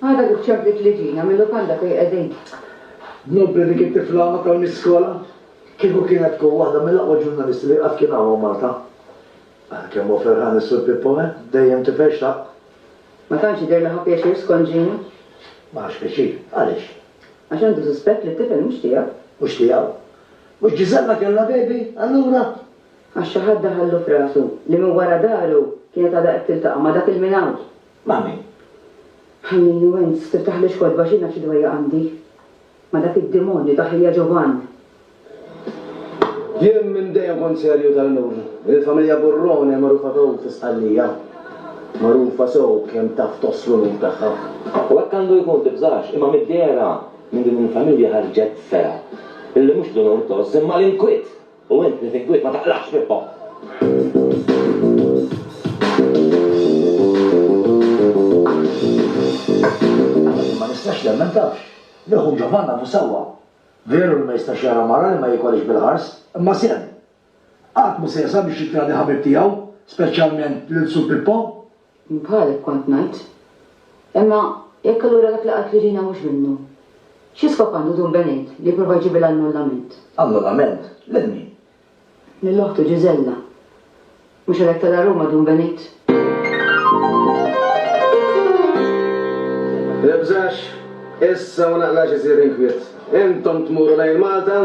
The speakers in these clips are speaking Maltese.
Għada kif ċemplit li ġina mil-lukanda fej qegħdin. Nobli dik it-tifla ma tgħallmiex skola? Kieku kienet tkun waħda mill-aqwa ġurnalisti li qatt kien hawn Malta. Ah kemm hu ferħan is-Sur Pippo eh, dejjem tifel xtaqt. Ma tantx jidher li ħa pjaċir skont Gina. Ma ħax pjaċir. Għaliex? Għax għandu suspett li t-tifel mhux tiegħu. Mhux tiegħu? Mhux Gisella kellha baby allura? Għax xi ħadd daħallu f'rasu li minn wara daru kienet għadha qed tiltaqa' ma' dak il-minawt. Ma' min? Ħallini u int tiftaħlix kotba għax jien naf xi dwejjaq għandi. Ma' dak id-demonju ta' ħija Ġovann. Jien minn dejjem kont serju tal-lum. Il-familja Burrone magħrufa sew fi Sqallija. Magħrufa sew b'kemm taf tgħożż l-unur tagħha. U hekk għandu jkun, tibżax, imma mid-dehra minn din il-familja ħarġet fergħa li mhux l-unur tgħożż imma l-inkwiet U int li tinkwiet ma taqlaqx minnhom. Għalhekk jien ma nistax nemmen, tafx, li ħu Ġovann għadu sewwa. Veru li ma jistax jara mara li ma jikolhiex bil-ħars, imma sehem. Qatt mhu se jesa' biex jittradi ħabib tiegħu, speċjalment lil Sur Pippo. Jien bħalek kont ngħid. Imma jekk allura dak li qalt Regina mhux minnu, xi skop għandu Dun Benejt li jipprova jġibilha annullament? Annullament? Lil min? Lil oħtu Ġiżella. Mhux għalhekk tela' Ruma Dun Benejt? Ibżax, issa u naqlax isir inkwiet. Intom tmuru lejn Malta?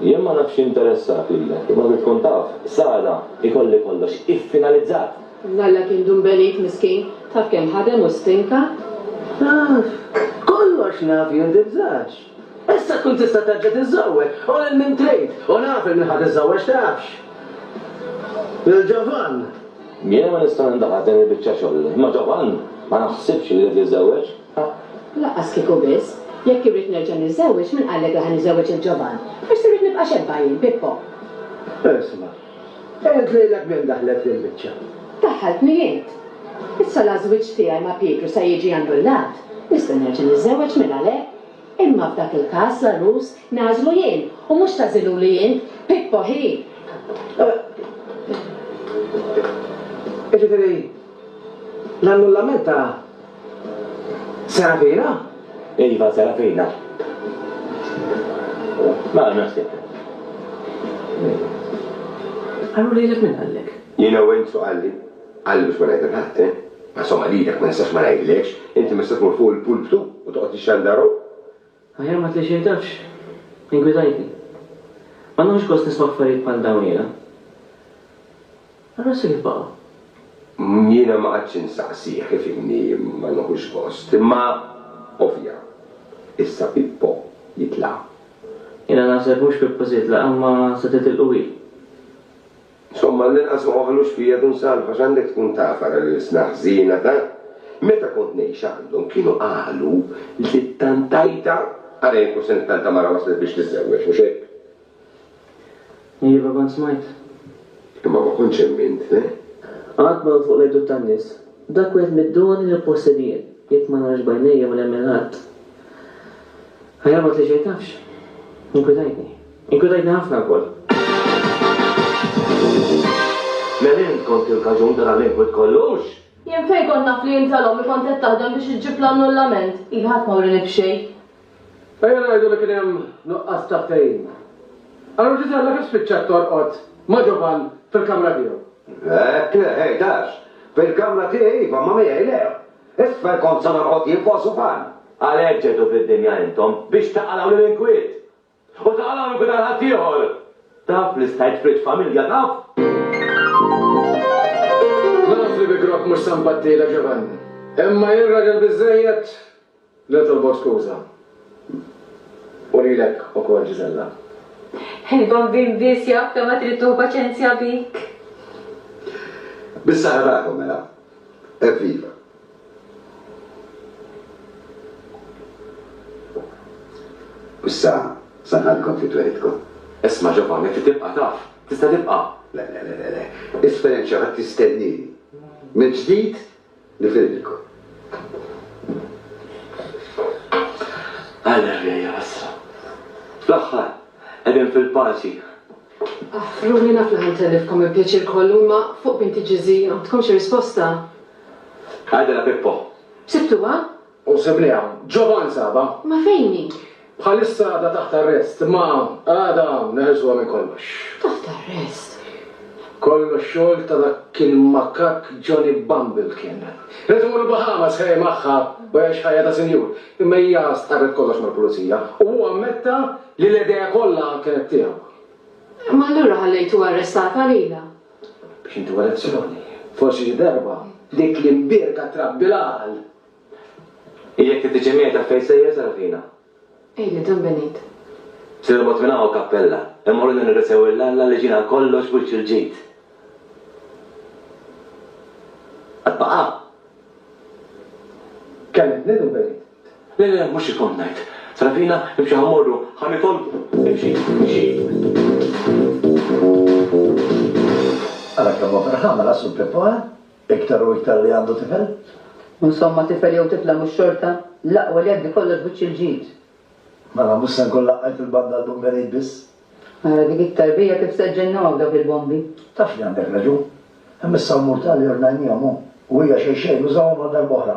Jien ma nafx x'interessat lilek, imma trid tkun taf, Sara, ikolli kollox iffinalizzat! Żalla kien dumbelit, miskin. Taf kemm ħadem u stinka? Naf. Kollox naf jien, tibżax. Issa tkun tista' terġa' tiżżewweġ, u lil min trid, u naf 'il min ħa tiżżewweġ, tafx? Lil Ġovann. Jiena ma nista' nindaħal f'din il-biċċa xogħol, imma Ġovann ma naħsibx li jrid jiżżewweġ. Laqqas kieku biss. Jekk irrid nerġa' niżżewweġ, min qallek li ħa niżżewweġ il-ġoban? Forsi rrid nibqa' xebba jien, Pippo. Isma'. Għedt lilek minn daħlet f'dil-biċċa? Daħħaltni int. Issa l-għażwieġ tiegħi ma' Pietru se jiġi annullat. Nista' nerġa' niżżewweġ min għalhekk. Imma f'dak il-każ l-għarus nagħżlu jien u mhux tagħżiluli int, Pippo ħi! Jiġifieri, l-annullament ta' Serafina? Iva, Serafina. Mela naħseb. Qallu lilek min qallek? Jiena u int x'hu qalli. Qalli biex ma ngħid lil ħadd, eh. Ma somma lilek ma nistax ma ngħidlekx. Inti mista tmur fuq il-pulptu u toqgħod tixxandar hawn. Aħjar ma tliċirdax. Iggwidajtni. Ma nieħux gost nisma' affarijiet bħal dawn jiena. Allura sirih b'aqwa. Jiena ma qgħadtx insaqsih ifhimni ma nieħux gost, imma ovvja. Issa Pippo jitla'. Jiena naħseb mhux Pippo se jitlaq imma se titilqu hi. Insomma, għall-inqas ma waħħlux fija dun salv għax għandek tkun taf ara l-ilsna ħżiena ta'. Meta kont ngħix għandhom kienu qalu li t-tantajta, ara jekk hux se nittanta mara waslet biex tiżżewweġ, mhux hekk? Iva, kont smajt. Imma ma kontx hemm int, le? Qatt ma hu fuq l-għejdut tan-nies. Dak wieħed mid-doni li nippossedi jien. Jekk ma narax b'għajnejja ma nemmen ħadd. Ħajamar li xejn tafx. Inkwitajtni. Inkwetajtni ħafna wkoll. Mela int kont il-kaġun ta' dan l-inkwit kollu, hux? Jien fejn kont naf li int tal-omm li kont qed taħdem biex iġġib l-annullament? Iva, ħadd ma wrieni b'xejn. Ejja ngħidu li kien hemm nuqqas ta' ftehim. Allura Ġiżella kif spiċċat torqod ma' Ġovann fil-kamra tiegħu? Hekk le, ħejt għax. Fil-kamra tiegħi iva, imma miegħi le. Isfel kont se norqod jien fuq sufan. Għalhekk ġejtu fid-dinja intom, biex taqalgħu lill-inkwiet! U ta' hawn ikun għal ħaddieħor. Taf li stajt f'riġ familja, taf? Naf li bi grokk mhux se nbattilek, Giovanni. Imma jien raġel biżżejjed li nitolbok skuża. U lilek ukoll, Gisella. Il-bambin biss jaf kemm għad irid tieħu paċenzja bik. Bis-saħħa tagħkom, mela. Evviva! Issa sa nħallikom fi twelidkom. Isma' Ġovanni, trid tibqa' taf. Tista' tibqa'. Le, le, le, le. Esperjenċa oħra tistennini. Mill-ġdid nifirrilkom. Alleluja, issa. Fl-aħħar, qegħdin fil-paċi. Ruħni, naf li ħa ntellifkom il-pjaċir kollu, imma fuq binti Ġiżi, għandkom xi risposta? Għidilha Pippo. Sibtuha? U sibni hawn. Ġovan sabha. Ma fejn hi? Bħalissa għadha taħt arrest, imma għada neħilsuha minn kollox. Taħt arrest? Kollox xogħol ta' dak il-makakk Johnny Bumble kien. Irid imur il-Bahamas ħej magħha u jgħix ħajja ta' sinjur. Imma hija stqarret kollox mal-Pulizija u hu ammetta li l-idea kollha kienet tiegħu. Imma allura ħallejtu arrestat għalilha? X'inti wara elezzjoni? Forsi xi darba dik l-imbierka trabbi l-għal! I jekk inti xi mejda fejn sejjer Sarafina? Ejli qdam Benit. Se norbot minn hawn kappella. Imma urieni nirringrazzjaw lil Alla li ġiena għal kollox wiċċ il-ġid. Għad baqa'? Kellimt lil Benit. Le, le, mhux hekk kont ngħid. Sarafina, imxi ħa mmorru, ħa nitolbu. Imxi, imxi. Ara kemm hu ferħan mela Sur Pippo, eh? Iktar u iktar li għandu tifel. U insomma tifel jew tifla mhux xorta l-aqwa li jgħaddi kollox b'wiċċ il-ġid. Mela mhux se nkun laqqajt il-banda għall-Bumberid biss? Ara dik it-tarbija kif se ġġennu hawn dawk il-bombi. Taf li għandek raġun. Hemm is-salmur tali ornajnihom hu. U hija xejn xejn użahom għal darb'oħra.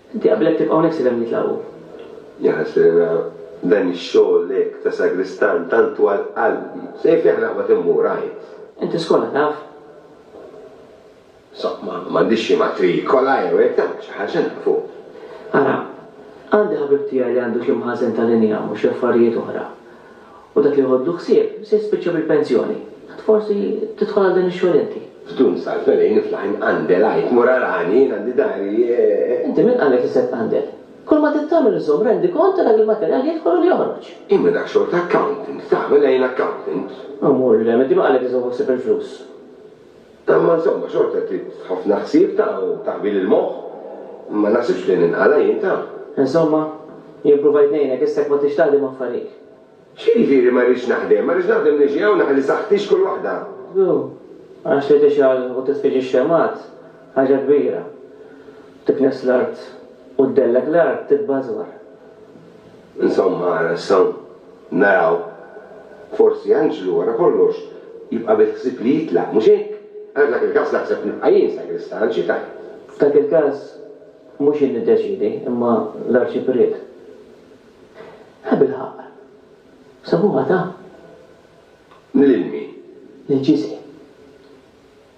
Inti qabilek tibqa' hawnhekk sirem nitlagħu. Jaħasrina dan ix-xogħol hekk ta' sagristan tant twal qalbi. Sejf jaħraq ma timmur, għid. Inti skola taf? Saqma, m'għandix xi matrikola jew hekk, tagħmel xi ħaġa nafu. Ara, għandi ħabib tiegħi li għandu xi mħażen tal-injam u xi affarijiet oħra. U dak li jħoddlu ħsieb se jispiċċa bil-pensjoni. Int forsi tidħol għal dan ix-xogħol inti? F'dun sal-felin iflaħin qandel għid mur arani jien għandi dari e. Inti min qalek li se tqandel? Kulma trid tagħmel iżżomm rendikont ta' dak il-materjal li jidħol u li joħroġ. Imma dak xogħol ta' accountant, tagħmel għajn accountant. U mur lil hemm, inti min qalek li se tħossib il-flus? Imma insomma xorta trid ħafna ħsieb ta' u taħbil il-moħħ. Ma naħsibx li ninqala' jien ta'. Insomma, jien pruvajt ngħinek, issek ma tridx taħdem affarik. X'jiġifieri ma rridx naħdem? Ma rridx naħdem niġi hawn aħli saħħti x'kull waħda. Hu, għax li tixgħal u titfiġi x-xemgħat, ħaġa kbira. Tiknes l-art u ddellek l-art titbażwar. Insomma, nistgħu naraw, forsi Anġlu, wara kollox, jibqa' bil-ħsieb li jitlaq, mhux hekk? Għax f'dak il-każ naħseb nibqa' jien sagristan, xi tgħid? F'dak il-każ mhux jien niddeċiedi, imma l-Arċipriet. Ħa bilħaqq, sabuha ta? Lil min? Lil Ġiżi.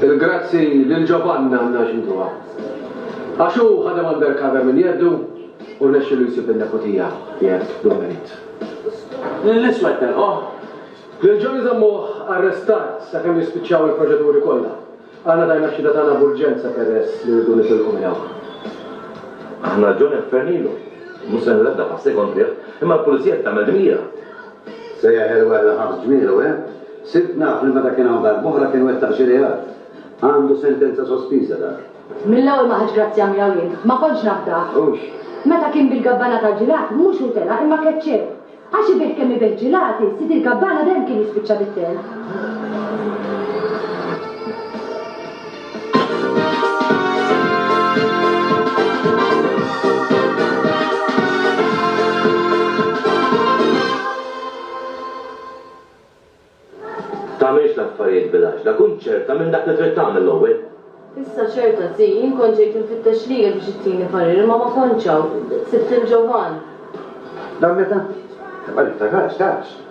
Il-grazzi lil Giovanna għandna nxiduha. Għax hu ħadem undercover minn jeddu u rnexxielu jsib in-neputija qiegħed bla merit. Lill-iswed telquh. Lil Johnny żammuh arrestat sakemm jispiċċaw il-proċeduri kollha. Aħna tajna x-xhieda tagħna b'urġenza peress li rridu nitilqu minn hawn. Aħna Johnny ħfernilu. Mhux se nrabda f'għas-second triq. Imma l-Pulizija qed tagħmel dmira. Sejjaħ il-werra ħabs ġmielu, eh? Sirt naf li meta kien hawn darb'oħra kien wettaq xi reat. Għandu sentenza sospiża dak. Mill-ewwel ma ħadtx grazzja miegħu jien. Ma kontx nafdah. Hux. Meta kien bil-gabbana tal-ġilati, mhux hu tela' imma keċċew. Għax ibigħ kemm ibigħ ġilati, sid il-gabbana dejjem kien jispiċċa bit-telf. Tagħmilx l-affarijiet bil-għaġla, kun ċerta minn dak li trid tagħmel l-ewwel. Issa ċerta, Zii, jien kont ġejt infittex lilek biex ittini parir imma ma kontx hawn. Sibt lil Ġovann. Dan meta? Imma niftakarx, tafx.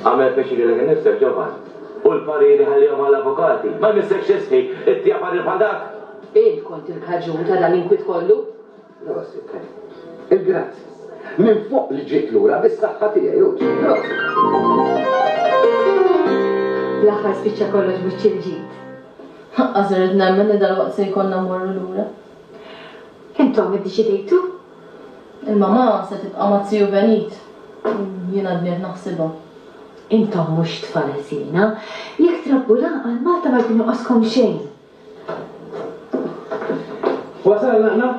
Agħmel pjaċir lilek innifsek, ġovan, u l-pariri ħallihom għall-avukati. Ma jmissekx tisħi t-tija parir bħal dak! Int kont il-kaġun ta' dan l-inkwiet kollu! Prosit, Ken. Il-grazzi. Minn fuq li ġiet lura bis-saħħa tiegħi, Ruth. Prosit! Fl-aħħar spiċċa kollox b'wiċċ il-ġid. Lanqas irrid nemmen li dalwaqt se jkollna mmorru lura. Intom iddeċidejtu? Il-mamà se tibqa' ma' Ziju Benit. Jien għadni qed naħsibha. Intom mhux tfal ħżiena. Jekk trabbu l-għaqal, Malta ma jkun joqoskom xejn. Wasalna aħna?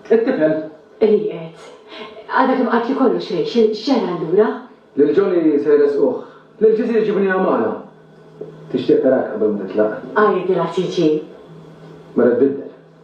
It-tifel? Rieqed. Għadha kemm qatli kollox Rachel. X'ġara allura? Lil Johnny se jressquh. Lil Ġiżi jġibu lina magħna. Tixtieq tarak qabel ma titlaq. Għidilha tiġi. Mela tbiddel.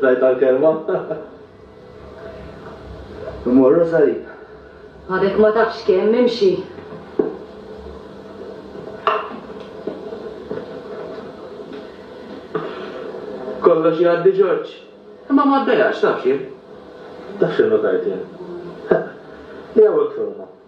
Tajt għall-kelma? Immorru s-salib. Għadek ma tafx kemm, imxi. Kollox jgħaddi Ġorġ. Imma ma ddejax, taf x'jien? Taf x'innotajt jien? Li hawn il-kfewma.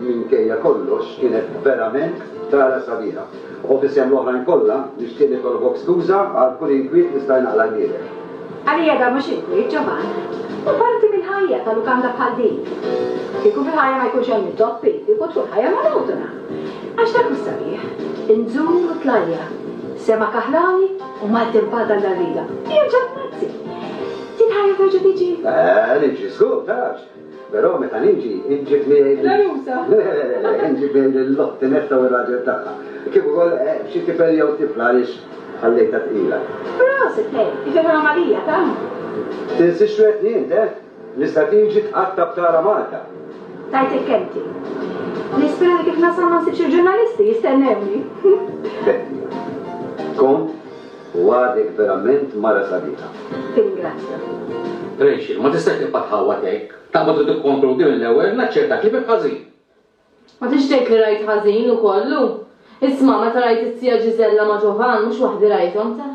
Minkejja kollox kienet verament gara sabiħa u f'isem l-oħrajn kollha nixtieq nitolbok skuża għal kull inkwiet li stajna qlajnielek. Għalija dan mhux inkwiet, Ġovann. Hu parti mill-ħajja ta' lukanda bħal din. Kieku fil-ħajja ma jkunx hemm intoppi, kieku tkun ħajja monotona. Għax dak hu s-sabiħ. Inzul u tlajja', sema kaħlani u Malti mpaddan dal-riga. Jerġa' tnazzi. Din ħajja terġa' tiġi? Eħe, niġi, żgur, tarax. Però meta niġi, inġib miegħi lil. Larusa! Le, le, le, inġib miegħi lill-oħti Netta u r-raġel tagħha. Kif ukoll xi tifel jew tifla għaliex ħallejtha tqila. Prosit, ħej, ifhimha Malija, ta? Tinsixwedni int, eh? L-istrateġi tqatta' b'tara Malta. Tajtek kelmti. Nispera li kif nasal ma nsibx il-ġurnalisti jistennewni. Betty. Kont? U għadek verament mara sabiħa. Tirringrazzja. Rachel, ma tistax tibqa' tħawwad hekk. Ta' ma trid tikkonkludi mill-ewwel, naċċertak li bimt ħażin. Ma tridx tgħid li rajt ħażin u kollu? Isma', meta rajt it-tija Gisella ma' Giovan, mhux waħdi rajthom, ta.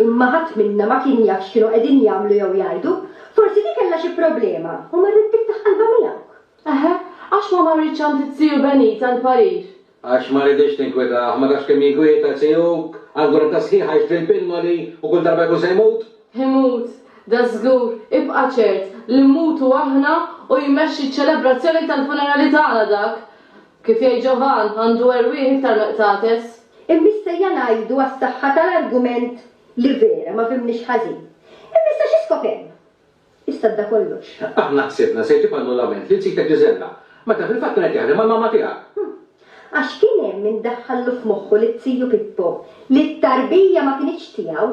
Imma ħadd minna ma kien jaf x'kienu qegħdin jagħmlu jew jgħidu. Forsi di kellha xi problema u marret tiftaħ qalbha miegħek. Eħe, għax ma marritx għand it-tiju Benita l-parir. Għax ma riditx tinkwitah, ma tafx kemm jinkwieta CUK, għal gwerta sħiħa jixtri l-pinnoli u kull darba jkun se jmut. Imut, dażgur, ibqa' ċert li mmutu aħna u jmexxi ċ-ċelebrazzjoni tal-funerali tagħna dak. Kif jgħid Ġovann, għandu erwieħ iktar miqtates. Imma issejja ngħidu għas-saħħa tal-argument li vera ma fhimniex ħażin. Imma issa xi skop hemm? Issa fda kollox. Aħna ħsibna se jġib annullament lil sitek Gisella, meta fil-fatt kien qed jaħdem mal-mamma tiegħek. Hm. Għax kien hemm min daħħallu f'moħħu li t-tiju Pippo, li t-tarbija ma kinitx tiegħu,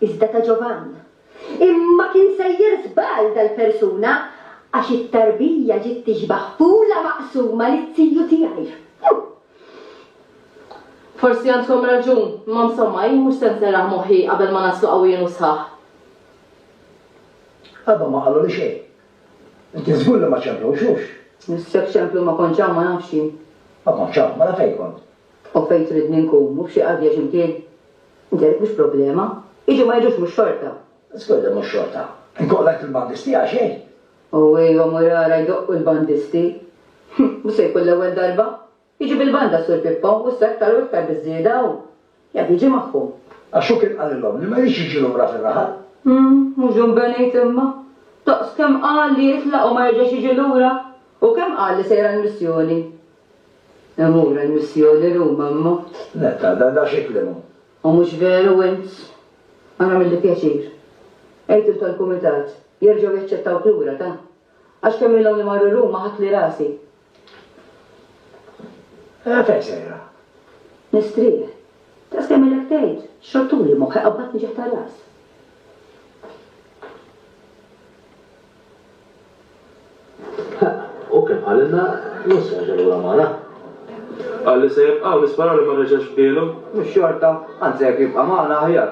iżda ta' Ġovann. Imma kien sejjer żball dal-persuna, għax it-tarbija ġiet tixbah f'ula maqsuma li t-tiju tiegħi. Hm. Forsi għandkom raġun, imma msomma, jien mhux se nserraħ moħħi qabel ma naslu qawwijin u sħaħ. Qabel ma qaluli xejn. Inti żgur li ma ċemplux, hux? Nissek ċemplu ma kontx hawn ma nafx jien. Ma kontx hawn, mela fejn kont? U fejn tridni nkun, mhu f'xi qadja x'imkien? Inti għalik mhux problema. Jiġu ma jiġux mhux xorta. Żgur li mhux xorta. Inkomplu ngħid lill-bandisti għal xejn? U ejwa mur ara jdoqqu l-bandisti. Mhux se jkun l-ewwel darba. Jiġi bil-banda Sur Pippo u issa iktar u iktar biż-żieda hu jaf jiġi magħhom. Għax hu kien qalilhom li ma jridx jiġi lura fir-raħal. Hm, mhux dun Benejt imma! Daqs kemm qal li jitlaq u ma jerġax jiġi lura! U kemm qal li sejr għall-missjoni! Imur għall-missjoni Ruma imma! Netta, dan da xi kliem hu! U mhux veru int! Ara għamilli pjaċir. Għidhom tal-kumitat jerġgħu jaċċettawk lura ta! Għax kemm ilhom li marru Ruma ħattli rasi. Eh, fejn sejra? Nistrieħ. Daqs kemm ilek tgħid, xortuli moħħi qabadtni ġieħ ta' ras. U kemm qalilna mhux se jerġa' lura Mala. Qal li se jibqa' u nisperaw li ma reġax f'bielu. Mhux xorta, anzi jekk jibqa' magħna aħjar.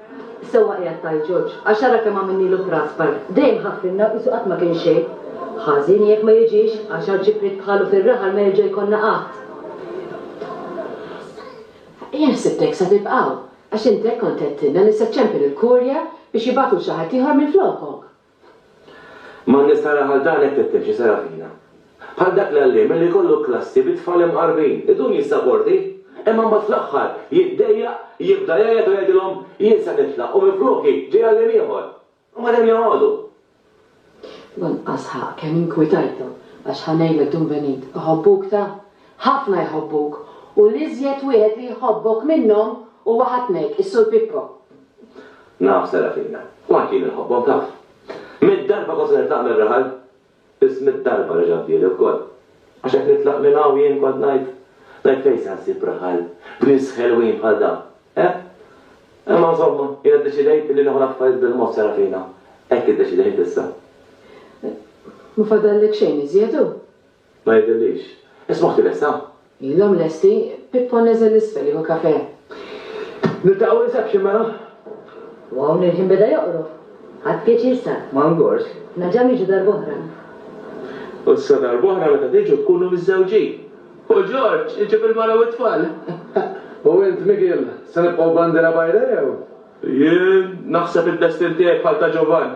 Sewwa qiegħed tgħid George, għax ara kemm għamilnielu trasbar. Dejjem ħaffrilna u qisu qatt ma kien xejn. Ħażin jekk ma jiġix, għax għal ġipriet bħalu fir-raħal ma jerġa' jkollna qatt. Jien ħsibt hekk sa tibqa' hawn, għax int hekk kont għedtilna li se ċċempel il-Kurja biex jibagħtu 'l xi ħadd ieħor minflokok. Ma n-nies tara bħal dan hekk titkellem xi sera fina. Bħal dak l-għalliem li jkollu klassi bi tfal imqarbin, idum jissaporti, imma mbagħad fl-aħħar jiddejjaq, jibda jgħajjat u jgħidilhom, jien se nitlaq u minfloki ġej għalliem ieħor. U mbagħad hemm joqogħdu. Lanqas ħa kemm inkwitajtu, għax ħa ngħidlek Dun Benit, iħobbuk ta'! Ħafna jħobbuk, u l-iżjed wieħed li jħobbok minnhom huwa ħatnek, is-Sur Pippo. Naf, Serafina. U anki jien inħobbhom, taf. Mitt darba kważi nitlaq mir-raħal, biss mitt darba reġa' fdieli wkoll. Għax jekk nitlaq minn hawn jien kont ngħid, ngħid fejn se nsib raħal b'nies ħelwin bħal dawn, eh? Imma insomma, jiena ddeċidejt li nieħu l-affarijiet bil-mod, Serafina. Hekk iddeċidejt issa. Ma fadallek xejn iżjed, hu? Ma jidhirlix. Ismah tilesta? Ilhom lesti, Pippo neżel 'l isfel jieħu kafe. Niltaqgħu reception mela? U hawn il-ħin beda joqrob. Ħadt pjaċir sa. Ma ngorx. Naġa' niġu darb'oħra. U sa darb'oħra meta tiġu tkunu miżżewġin. U George iġib il-mara u t-tfal. U int Miguel, se nibqgħu bandiera bajda jew? Jien? Naħseb id-destin tiegħi bħal ta' Giovan.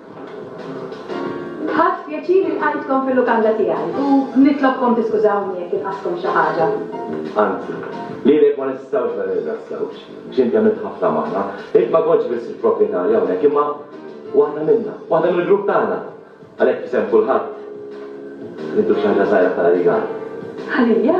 Ħadt pjaċir li lqajtkom fil-lukanda tiegħi u nitlobkom tiskużawni jekk inqastkom xi ħaġa. Anzi, lilek ma nistgħux ma nirringrazzjawkx, għax inti għamilt ħafna magħna. Int ma kontx biss il-proprjetarja hawnhekk, imma waħda minna, waħda mill-grupp tagħna. Għalhekk f'isem kulħadd, nintuk xi ħaġa żgħira bħala rigal. Għalija?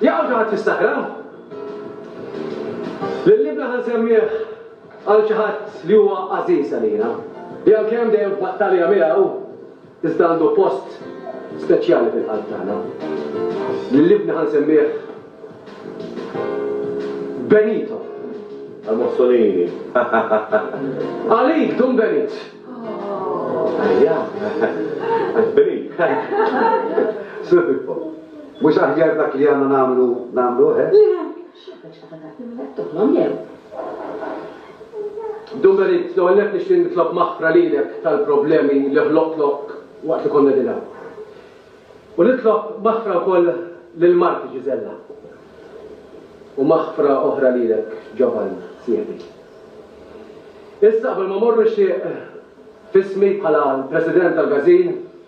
Jaqal xi ħadd jistakra? Lil ibna ħa nsemmih għal xi ħadd li huwa għażiż għalina, li għalkemm dejjem f'battalja miegħu, iżda għandu post speċjali fil-qalb tagħna. Lil ibna ħa nsemmih Benito. Għal Mussolini. Għalik, Dun Benit. Għalija. Għal Benit. Sur Pippo. Mhux aħjar dak li għandna nagħmlu nagħmluh, eh? Le, x'għandek xi ħaġa tagħti mela titolblhom jew? Dumerit, l-ewwel nett nixtieq nitlob maħfra lilek tal-problemi li ħloqtlok waqt li konna qegħdin hawn. U nitlob maħfra wkoll lil marti Ġiżella. U maħfra oħra lilek, Ġovan, sieħbi. Issa qabel ma morru nixtieq f'ismi bħala l-President tal-Gazin,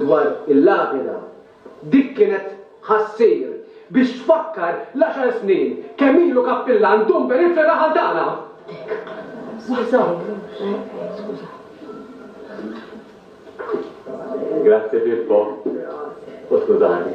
dwar il-lapida, dik kienet ħa ssir biex tfakkar l-għaxar snin kemm ilu kappillan Dumber il-fergħa Ħaltana. Grazzi Pippo, u skużani.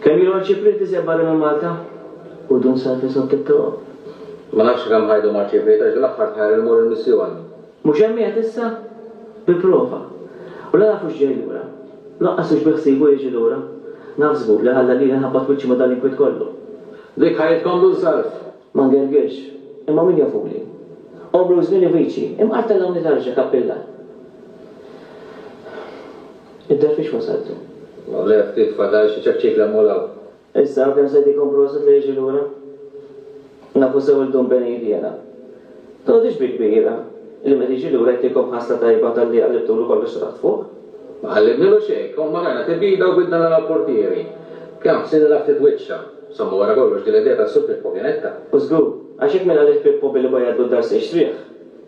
Kemm ilu għal xi printizja barra minn Malta? U dun sar fi sokkit tiegħu? Ma nafx kemm ħajdu ma rċievejt għax dil-aħħar tħajr immur il-missjoni. Mhux hemm qiegħed issa? Bi prova. U la naf hux ġej lura. Lanqas hux biħsiebu jiġi lura. Naf żgur li ħalla lili nħabbat wiċċi ma' dal-inkwiet kollu. Dik ħajjitkom dun sarf! Ma ngergirx. Imma min jafuli? Għomru u żmieni viċi, imqar tellgħuni tarġa, kappilla. Inta fiex wasalt? Mawlea ftit fadal xi ċekċikla mhu l-hawn. Issa kemm se jtikom proset li jiġi lura? Nafu sew il Dun Benign Vjena. Tgħodix bi kbira li meta jiġi lura jtikom ħasla tajba talli qallibtulu kollox ta' taħt fuq. Ma qallibnilu xejn, kemm ma rajna tebida u bidna naraw l-portieri. Kemm ħsiet nilgħab ftit wiċċha. Somma wara kollox din l-idea tas-Sur Pippo kienet ta'. Żgur, għax jekk min għalih Pippo billi bajjatlu d-dar se jixtrih?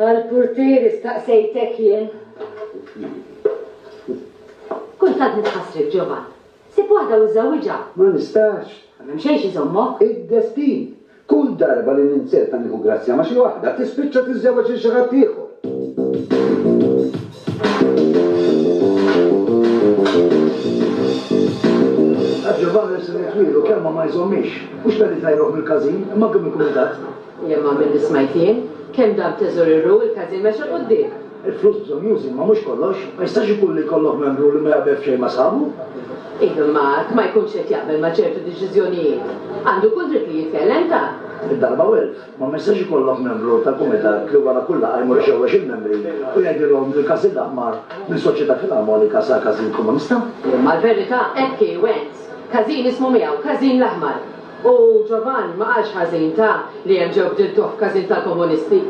Għall-purtieri staqsejtek jien. Kultant nitħassrek, Ġovann. Ssib waħda u żżewwiġha. Ma nistax. Ma hemm xejn x'iżommok. Id-destin. Kull darba li ninzerta nieħu grazzja ma' xi waħda, tispiċċa tiżżewweġ lil xi ħadd ieħor. Ġovann irsilni twielu kemm ma ma jżommix. Mhux talli tgħajruh mill-każin, imma kemm ikun idadd. Imma milli smajt jien, kemm dan teżoriru, il-każin mexa 'l quddiem. Il-flus bżonn jużi, imma mhux kollox. Ma jistax ikun li jkollok membru li ma jaqbel f'xejn ma' sħabu. Iva, imma jekk ma jkunx qed jaqbel ma' ċertu deċiżjonijiet, għandu kull dritt li jitkellem, ta. Id-darba u elf. Imma ma jistax ikollok membru tal-kumitat li wara kull laqgħa jmur ixewwex il-membri u jgħidilhom li l-każin l-aħmar minn Soċjetà Filarmonika sar każin komunista. Imma l-verità hekk hi, Wens. Każin ismu miegħu, każin l-aħmar. U Giovanni ma qalx ħażin, ta, li hemm ġew bdiltuh f'każin tal-komunisti.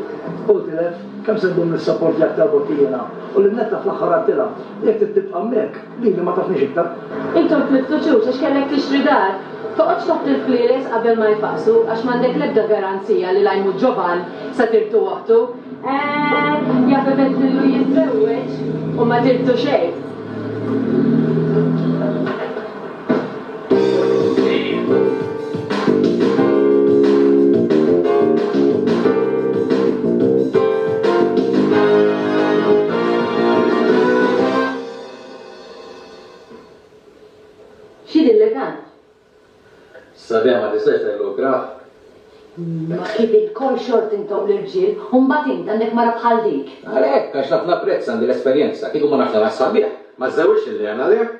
Hu tilef, kemm se ddum nissaportjak talbok jiena, u lil Netta fl-aħħar għadtilha, jekk trid tibqa' hemmhekk, lili ma tafnix iktar. Int għodt miftuċux għax kellek tixtri dar. Toqgħodx taħt il-flieles qabel ma jfaqqsu, għax m'għandek l-ebda garanzija li l-għajmut Giovan se tirtu waħdu. Eehh, jaf ibeddlillu jiżżewweġ u ma tirtu xejn. X'inhi l-legat? Sabiħa ma tistax tgħidlu ikrah? Ma kif ilkoll xort intom l-irġiel u mbagħad int għandek mara bħal dik? Għalhekk, għax naf napprezza, għandi l-esperjenza, kieku ma nafx nagħmilha sabiħ, ma żżewġtx lilli għamel hekk.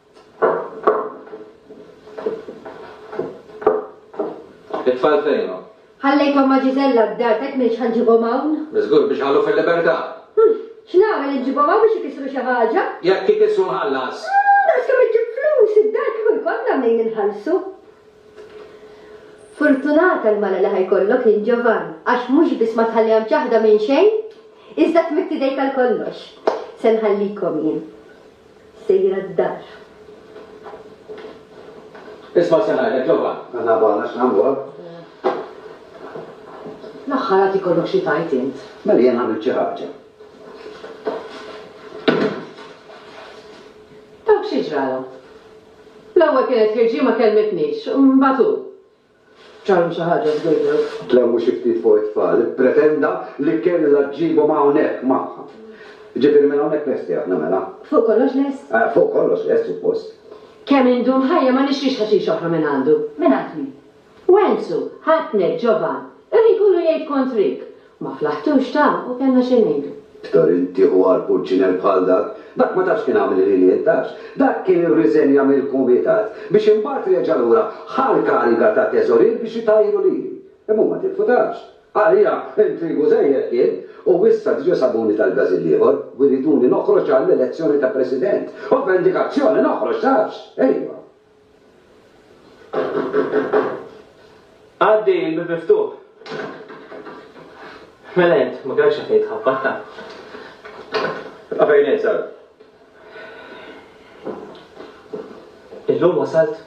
It-tfal fejnhom? Ħallejthom ma' Gisella d-dar t'hekk m'iniex ħa nġibhom hawn. Żgur biex ħallu fil-libertà. Hm, x'nagħmel inġibhom hawn biex ikissru xi ħaġa? Jekk ikissru nħallas. Ah, naqas kemm iġġib flus id-dar kieku jkollna mnejn inħallsu. Furtunata l-mara li ħa jkollok int Ġovann, għax mhux biss ma tħalliha mċaħħda minn xejn, iżda tmidd idejk għal kollox. Se nħallikom jien. Sejra d-dar. Isma' se ngħidlek, Ġovan. Għandna bogħod għax nagħmlu hekk. L-aħħar għad ikollok xi tgħid int. Mela jien għamilt xi ħaġa. Dawk xi ġralhom? L-ewwel kienet ħirġi ma kellmitnix, imbagħad hu. Charlie xi ħaġa f'dedu. Tlawwu xi ftit fuq it-tfal. Ippretenda li kellha ġġibhom hawnhekk magħha. Jiġifieri minn hawnhekk lesti aħna mela? Fuq kollox lest? Fuq kollox lest, suppost. Kemm indum ħajja ma nixtrix ħaxix oħra minn għandu. Mingħand min? Wenzu, ħadtnek, Ġovan. Il-ħin kollu jgħid kontrik. Ma flaħtux ta' u kellna xi ngħidu. Ktar intieħu għal purċinell bħal dak. Dak ma tafx kien għamel il-ħiliet, tafx? Dak kien irriżenja mill-kumitat biex imbagħad reġa' lura ħa l-kariga ta' teżorier biex itajru lili. Imma huma tilfu, tafx? Għalija intrigu żejjed kien u issa diġa' sabuni tal-Gażil l-ieħor u jriduni noħroġ għall-elezzjoni ta' President. U b'vendikazzjoni noħroġ, tafx? Ejwa. Għaddi il-bib miftuħ. Mela int, ma kellekx għafejt ħabbatta. Għafejn int, sar. Illum wasalt.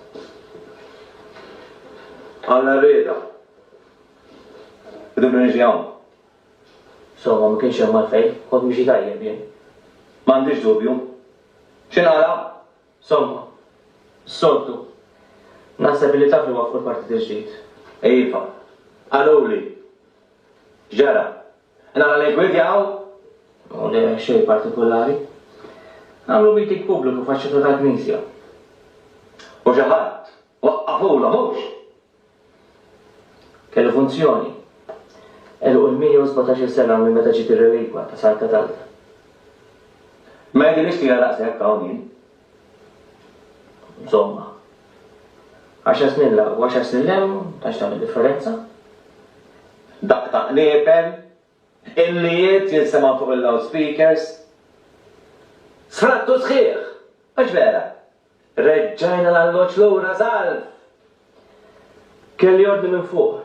Għalla rrida. Idu brinġi għom. Soma, ma kienx hemm għalfejn, kont miexi tajjeb jien. M'għandix dubju. X'inqala? Somma, s-soltu. Naħseb illi taf li waqqfu l-Partit il-Ġdid. Iva. Qaluli. X'ġara? Qed nara li ggwidjaw? O le, xejn partikulari. Għamlu meeting pubbliku f'għax-ċetta tal-knisja. U xi ħadd waqqafulhom, hux? Kellu funzjoni. Għelqu l-117-il sena minn meta ġiet ir-relikwa ta' San Katalda. Ma jidhirlix twila daqshekk hawn jien. Insomma. Għaxar snin 'l hawn u għaxar snin 'l hemm, tantx tagħmel differenza. Daqq ta' qniepen, illijiet jinsemgħu fuq il-loudspeakers. Sfrattu sħiħ! Mhux vera? Reġġajna l-alloġġ lura, salv! Kelli ordni minn fuq.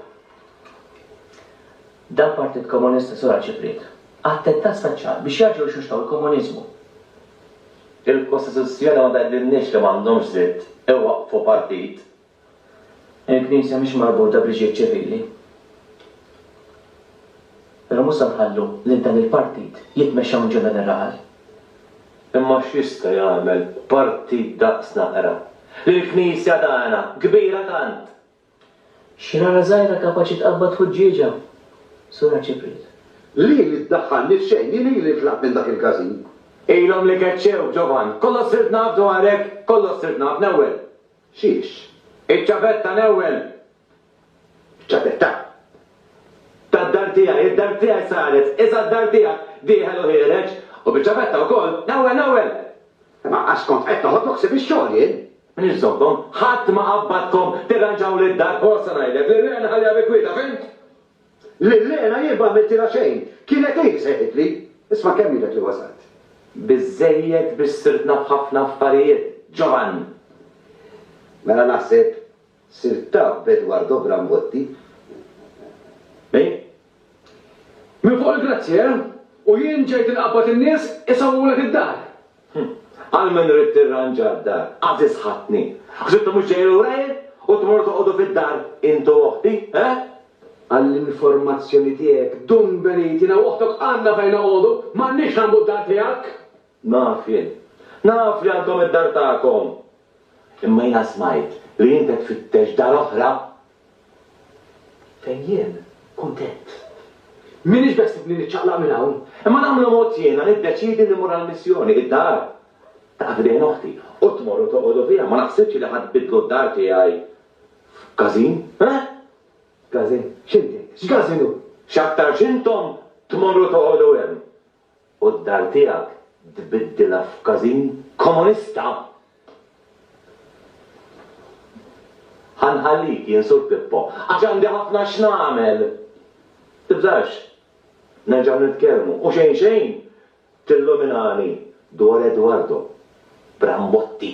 Dan partit komunista sura ċipriet. Attentat speċjal biex jerġgħu jxuxtaw il-komuniżmu. Il-Kostituzzjoni ma tgħidilniex li m'għandhomx dritt iwaqqfu partit Il-Knisja mhix marbuta b'liġijiet ċivili. Però mhux se nħallu lil dan il-partit jitmexxa minn ġenereral. Imma x'jista' jagħmel partit daqs naqra lil Knisja tagħna, kbira tant? Xi rana żgħira kapaċi tqabbad ħuġġieġa, Sur Arċipriet. Li li ddaħħalni f'xejn, jien ili li tlaqt minn dak il-każin. Ilhom li keċċew, Ġovan. Kollox sirt naf dwarek, kollox sirt naf, l-ewwel. Xiex, iċ-ċavetta l-ewwel, iċ-ċavetta? tad-dar tiegħi, id-dar tiegħi saret iżgħar d-dar tiegħek, dieħel u ħiereġ, u biċ-ċavetta wkoll, l-ewwel, l-ewwel! Imma għax kont qed noħod u ħsieb ix-xogħol jien. Minix żomkom, ħadd ma qabbadkom tirranġawli d-dar. Hu sa ngħidlek li r-reqqa nħalliha bi kwieta, fhimt? Lil Lena jien ma għamiltilha xejn, kienet hi li sejħitli. Isma' kemm ilek li wasalt. Biżżejjed biex sirt naf ħafna affarijiet, Giovann! Mela naħseb sirt taf b'Eduardo Brambotti. Hi? Minn fuq il-grazzja, eh? U jien ġejt inqabbad in-nies isawwulek id-dar? Hm. Għal min ridt tirranġa d-dar, għażiż ħadtni. Ħsibtu mhux ġej lura jien u tmorru toqgħodu fid-dar int u oħti, eh? Għall-informazzjoni tiegħek, Dun Benit, jiena u oħtok għandna fejn noqogħdu, m'għandniex nagħmbu d-dar tiegħek! Naf jien. Naf li għandkom id-dar tagħkom. Imma jiena smajt li int qed tfittex dar oħra Fejn jien kuntent. M'iniex beħsibni niċċaqlaq minn hawn, imma nagħmlu mod jiena niddeċiedi li mmur għall-missjoni. Id-dar taqa' f'idejn oħti u tmorru toqogħdu fiha. Ma naħsibx li ħa tbiddlu d-dar tiegħi f'każin, eh? Każin? X'inti? X'każin hu? X'aktarx intom tmorru toqogħdu hemm. u d-dar tiegħek tbiddilha f'każin komunista! Ħa nħallik, jien Sur Pippo, għax għandi ħafna x'nagħmel! Tibżax, nerġgħu nitkellmu, u xejn xejn tilluminani dwar Edwardo Brambotti!